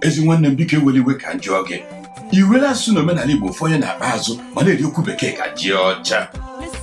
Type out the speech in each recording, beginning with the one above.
ezi nwanne m biko ewela iwe ka m jụọ gị i were asụsụ na omenala igbo fọnye n'akpa azụ ma na-eri okwu bekee ka ji ọcha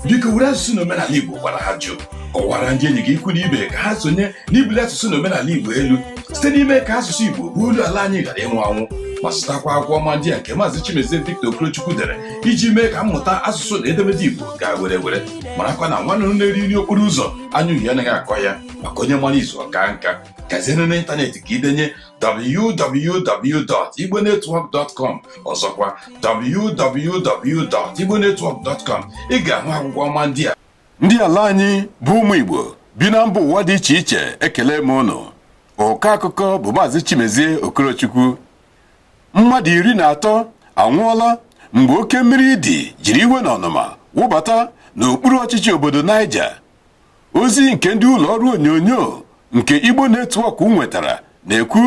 biko were asụsụ na omenala igbo gwara ajụ kọwara ndị enyi gị ikwu na ibe ka ha sonye n'ibuli asụsụ na omenala igbo elu site n'ime ka asụsụ igbo bụ olu ala anyị ghara ịnwụ anwụ ma zụtakwa akwụkwọ ọma ndị a nke maazị chimezie victor okorochukwu dere iji mee ka mmụta asụsụ na edemede igbo gaa were were marakwa na nwa nnụnụ na-eri nri okporo ụzọ anya uhie anaghị akọ ya maka onye mara izu ọ kaa nka gazie n'ịntanetị ka i denye www.igbonetwork.com ọzọkwa www.igbonetwork.com ị ga-ahụ akwụkwọ ọma ndị a ndị ala anyị bụ ụmụ Igbo bi na mba ụwa dị iche iche ekelee m ụnụ ọkọ akụkọ bụ maazị Chimezie Okorochukwu mmadụ iri na atọ anwụọla mgbe oke mmiri ide jiri iwe na ọnụma wụbata n'okpuru ọchịchị obodo Niger ozi nke ndị ụlọ ọrụ onyonyo nke Igbo Network nwetara na-ekwu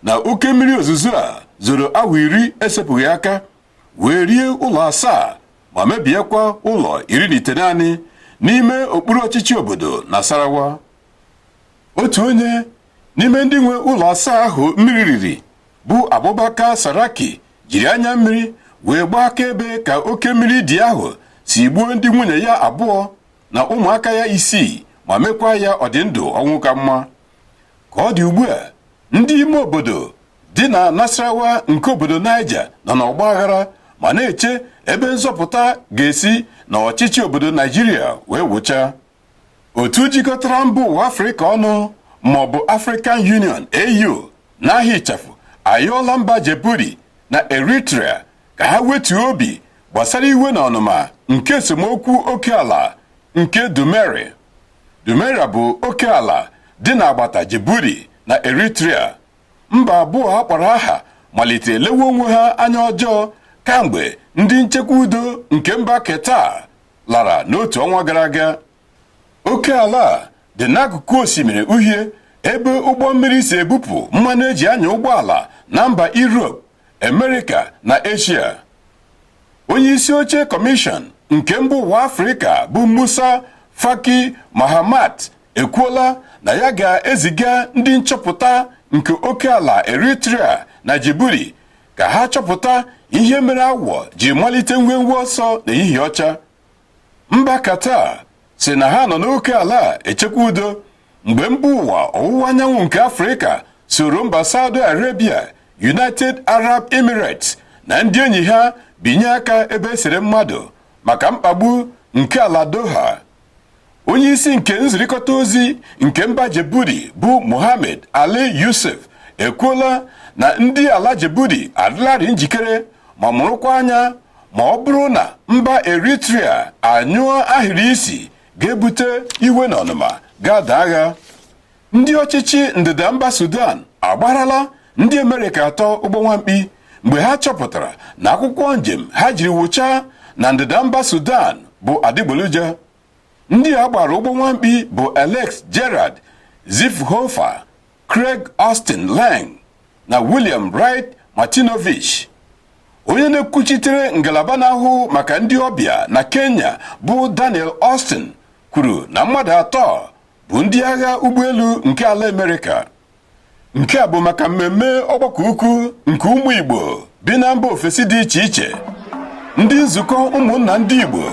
na oke mmiri ozuzo a zoro awa iri esepụghị aka wee rie ụlọ asaa ma mebiekwa ụlọ iri na itenaanị n'ime okpuru ọchịchị obodo Nasarawa otu onye n'ime ndị nwe ụlọ asaa ahụ mmiri riri bụ Abubakar Saraki jiri anya mmiri wee gbaa akaebe ka oke mmiri ide ahụ si gbuo ndị nwunye ya abụọ na ụmụaka ya isii ma mekwa ya ọ dị ndụ ọnwụ ka mma ka ọ dị ugbu a ndị ime obodo dị na Nasarawa nke obodo Niger nọ n'ọgba aghara ma na-eche ebe nzọpụta ga-esi na ọchịchị obodo Naịjirịa wee wụcha otu jikọtara mba ụwa Afrịka ọnụ maọbụ African Union AU n'aha ịchafụ ayọọla mba Djibouti na Eritrea ka ha wetuo obi gbasara iwe na ọnụma nke esemokwu oke ala nke Dumeri. Dumeri bụ oke ala dị n'agbata Djibouti na Eritrea. Mba abụọ a kpọrọ aha malitere lewe onwe ha anya ọjọọ kamgbe ndị nchekwa udo nke mba Qatar lara n'otu ọnwa gara aga. oke ala a dị n'akụkụ osimiri uhie ebe ụgbọ mmiri si ebupụ mmanụ e ji anya ụgbọala na mba Europe, America na Asia. Onye isi oche kọmishọn nke mba ụwa Afrịka bụ Musa Faki Mahamat ekwuola na ya ga-eziga ndị nchọpụta nke oke ala Eritrea na Djibouti ka ha chọpụta ihe mere awọ ji malite nwenwe ọsọ n'ehihie ọcha. mba Qatar sị na ha nọ n'oke ala echekwa udo mgbe mba ụwa ọwụwa anyanwụ nke Afrịka soro mba Saudi Arabia United Arab Emirates na ndị enyi ha binye aka ebe e sere mmadụ maka mkpagbu nke ala Doha onye isi nke nzirịkọta ozi nke mba Djibouti bụ Mohammed Ali Yusuf ekwuola na ndị ala Djibouti adịlarị njikere ma mụrụkwa anya ma ọ bụrụ na mba Eritrea anyụọ ahịrị isi ga-ebute iwe na ọnụma ga-ada agha ndị ọchịchị ndịda mba Sudan agbarala ndị Amerịka atọ ụgbọ nwamkpi mgbe ha chọpụtara na akwụkwọ njem ha jiri wụchaa na ndịda mba Sudan bụ adịgboloja ndị a gbara ụgbọ nwamkpi bụ Alex Jared Zwiefelhofer Craig Austin Lang na William Wright Martinovich onye na-ekwuchitere ngalaba na-ahụ maka ndị ọbịa na Kenya bụ Daniel Austin kwuru na mmadụ atọ bụ ndị agha ụgbọelu nke ala Amerịka nke a bụ maka mmemme ọgbakọ ukwu nke ụmụ Igbo bi na mba ofesi dị iche iche ndị nzukọ ụmụnna ndị Igbo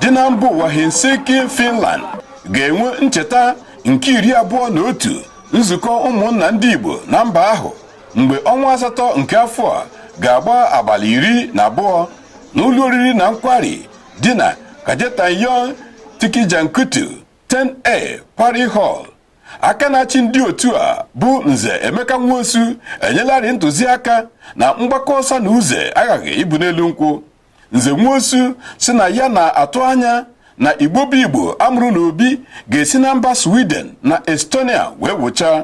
dị na mba ụwa Helsinki Finland ga-enwe ncheta nke iri abụọ na otu nzukọ ụmụnna ndị Igbo na mba ahụ mgbe ọnwa asatọ nke afọ a ga-agba abalị iri na abụọ n'ụlọ oriri na nkwari dị na Kajetan Yon Tikijankutu 10A Quarry Hall aka na-achị ndị otu a bụ nze emeka nwosu enyelarị ntụziaka na mgbakọ ọsa na uze aghaghị ịbụ n'elu nkwụ nze nwosu sị na ya na-atụ anya na igbo bụ igbo a mụrụ n'obi ga-esi na mba sweden na estonia wee wụcha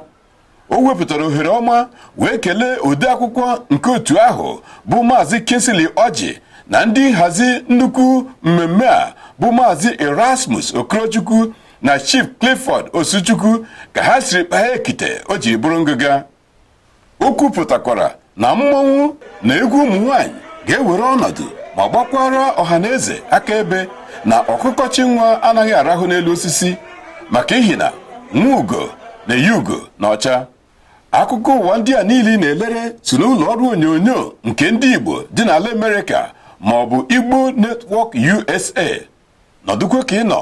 o wepụtara ohere ọma wee kelee odeakwụkwọ nke otu ahụ bụ maazị kingsley ọjị na ndị nhazi nnukwu mmemme a bụ maazị erasmus okorochukwu na Chief Clifford Osuchukwu ka ha siri kpaa ekite o jiri bụrụ ngịga o kwupụtakwara na mmọnwụ na egwu ụmụ nwanyị ga-ewere ọnọdụ ma gbakwara ọha na eze akaebe na ọkụkọ chị nwa anaghị arahụ n'elu osisi maka ihi na nwa ugo na-eyi ugo n'ọcha akụkọ ụwa ndị a niile na-elere si n'ụlọ ọrụ onyonyo nke ndị Igbo dị n'ala Amerịka ma ọ bụ Igbo Network USA nọdụkwa ka ị nọ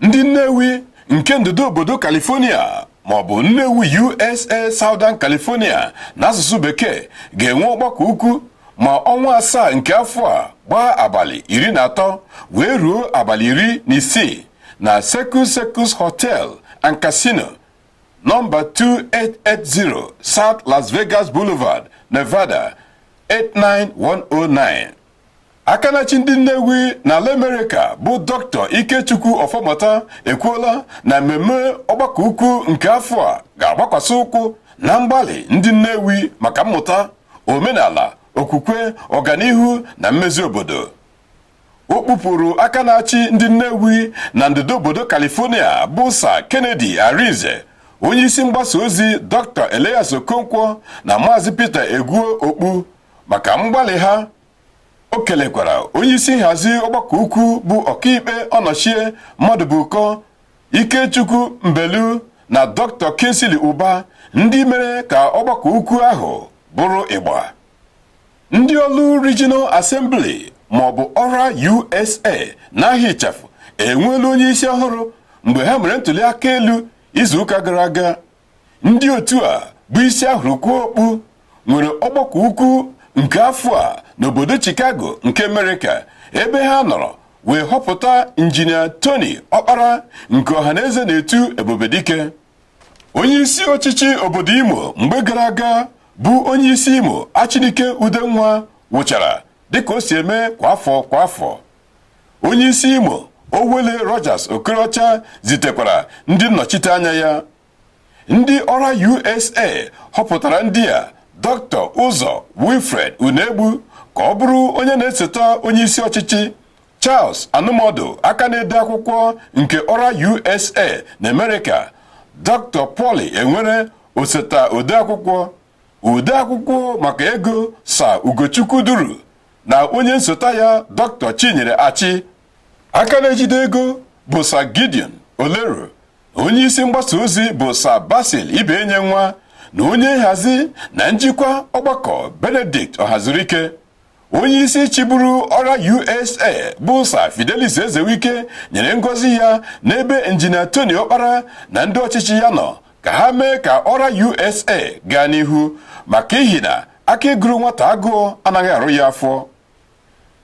ndị Nnewi nke ndịda obodo California ma ọ bụ Nnewi USA Southern California n'asụsụ bekee ga-enwe ọgbakọ ukwu ma ọnwa asaa nke afọ a gbaa abalị iri na atọ wee ruo abalị iri na isii na Circus Circus Hotel and Casino nọmba 2880 South Las Vegas Boulevard, Nevada 89109. aka na-achị ndị Nnewi n'ala Amerịka bụ dọkịta Ikechukwu Ọfọmata ekwuola na mmemme ọgbakọ ukwu nke afọ a ga-agbakwasị ụkwụ na mgbalị ndị Nnewi maka mmụta omenala okwukwe ọganihu na mmezi obodo o kpupụrụ aka na-achị ndị Nnewi na ndịda obodo California bụ sa Kennedy Arinze onye isi mgbasa ozi Dr. Elias Okonkwo na Maazị Peter Egwuo okpu maka mgbalị ha o kelekwara onyeisi nhazi ọgbakọ ukwu bụ ọkaikpe Ọnọchie Mmadụbụkọ Ikechukwu Mbelu na dọkịta Kingsley Ụba ndị mere ka ọgbakọ ukwu ahụ bụrụ ịgba ndị Orlu Regional Assembly maọbụ ORA USA n'aha ịchafụ enweela onye isi ọhụrụ mgbe ha mere ntuli aka elu izuụka gara aga ndị otu a bụ isi a hụrụ kwuo okpu nwere ọgbakọ ukwu nke afọ a n'obodo Chicago nke Amerịka ebe ha nọrọ wee họpụta injinia Tony Ọkpara nke ọhaneze na-etu Ebubedike onye isi ọchịchị obodo Imo mgbe gara aga bụ onye isi Imo Achinike Udenwa wụchara dịka o si eme kwa afọ kwa afọ onye isi Imo Owelle Rochas Okorocha zitekwara ndị nnọchite anya ya ndị ORA USA họpụtara ndị a Dr. Ụzọ Wilfred Unegbu ka ọ bụrụ onye na-esota onye isi ọchịchị Charles Anụmọdụ aka na-ede akwụkwọ nke ORA USA na Amerịka Dr. Polly Enwere osota odeakwụkwọ odeakwụkwọ maka ego Sir Ugochukwu Duru na onye nsota ya dọkịta Chinyere Achị aka na-ejide ego bụ sa Gideon Olero onye isi mgbasa ozi bụ sa Basil Ibenyenwa na onye nhazi na njikwa ọgbakọ Benedict Ọhazurike onye isi chịburu ORA USA bụ sa Fidelis Ezewike nyere ngozi ya n'ebe injinia Tony Okpara na ndị ọchịchị ya nọ ka ha mee ka ORA USA gaa n'ihu maka ihi na akị gụrụ nwata agụụ anaghị arụ ya afọ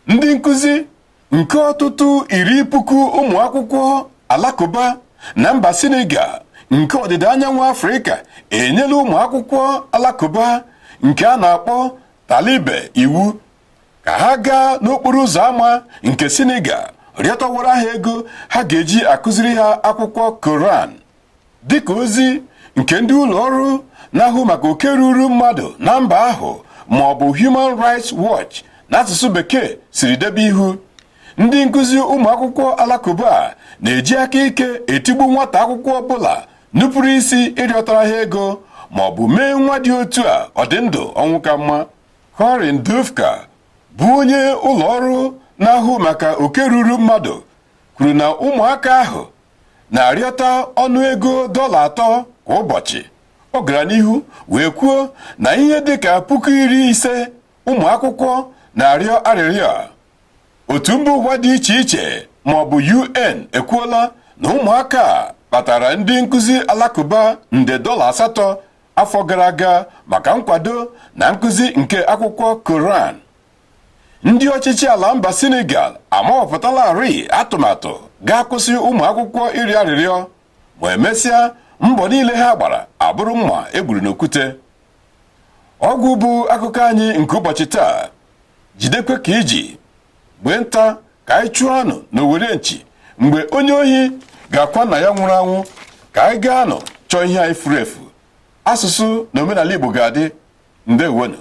ndị nkụzi nke ọtụtụ iri puku ụmụ akwụkwọ alakụba na mba Senegal nke ọdịda anyanwụ Afrịka enyela ụmụ akwụkwọ alakụba nke a na-akpọ Talibe iwu ka ha gaa n'okporo ụzọ ámá nke Senegal rịọtawara ha ego ha ga-eji akụziri ha akwụkwọ Koran dịka ozi nke ndị ụlọ ọrụ na-ahụ maka oke ruru mmadụ na mba ahụ ma ọ bụ Human Rights Watch n'asụsụ bekee siri debe ihu ndị nkụzi ụmụ akwụkwọ alakụba na-eji aka ike etigbu nwata akwụkwọ ọbụla nupụrụ isi ịrịọtara ha ego ma ọ bụ mee nwa dị otu a ọ dị ndụ ọnwụ ka mma Corinne Dufka bụ onye ụlọ ọrụ na-ahụ maka oke ruru mmadụ kwuru na ụmụaka ahụ na-arịọta ọnụego dọla atọ kwa ụbọchị ọ gara n'ihu wee kwuo na ihe dịka puku iri ise ụmụ akwụkwọ na-arịọ arịrịọ otu mba ụwa dị iche iche ma ọ bụ UN ekwuola na ụmụaka kpatara ndị nkụzi alakụba nde dọla asatọ afọ gara aga maka nkwado na nkụzi nke akwụkwọ Koran ndị ọchịchị ala mba Senegal amawapụtalarị atụmatụ ga-akwụsị ụmụ akwụkwọ ịrịọ arịrịọ ma emesịa mbọ niile ha gbara abụrụ mma e gburu n'okwute ọ gwụ bụ akụkọ anyị nke ụbọchị taa jidekwa ka i ji mgbe nta ka anyị chụọ anụ n'owere nchi mgbe onye ohi ga-akwa nna ya nwụrụ anwụ ka anyị gaanụ chọọ ihe anyị furu efu asụsụ na omenala Igbo ga-adị ndewonụ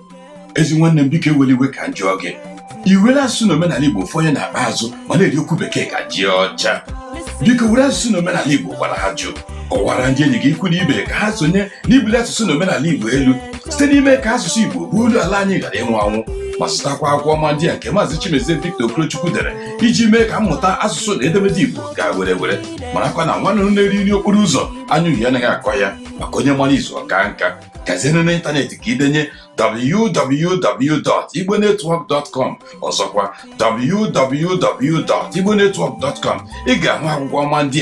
ezi nwanne m biko ewela iwe ka m jụọ gị i were asụsụ na omenala igbo fọnye n'akpa azụ ma na-eri okwu bekee ka ji ọcha biko were asụsụ na omenala igbo gwara ajụ kọwara ndị enyi gị ikwu na ibe ka ha sonye n'ibuli asụsụ na omenala igbo elu site n'ime ka asụsụ igbo bụ olu ala anyị ghara ịnwụ anwụ ma zụtakwa akwụkwọ ọma ndị a nke maazị Chimezie Victor Okorochukwu dere iji mee ka mmụta asụsụ na edemede Igbo gaa were were marakwa na nwa nnụnụ na-eri nri okporo ụzọ anya uhie anaghị akọ ya maka onye mara izu ọ kaa nka gazienụ n'ịntanetị ka i denye www.igbonetwork.com ọzọkwa www.igbonetwork.com ị ga-ahụ akwụkwọ ọma ndị a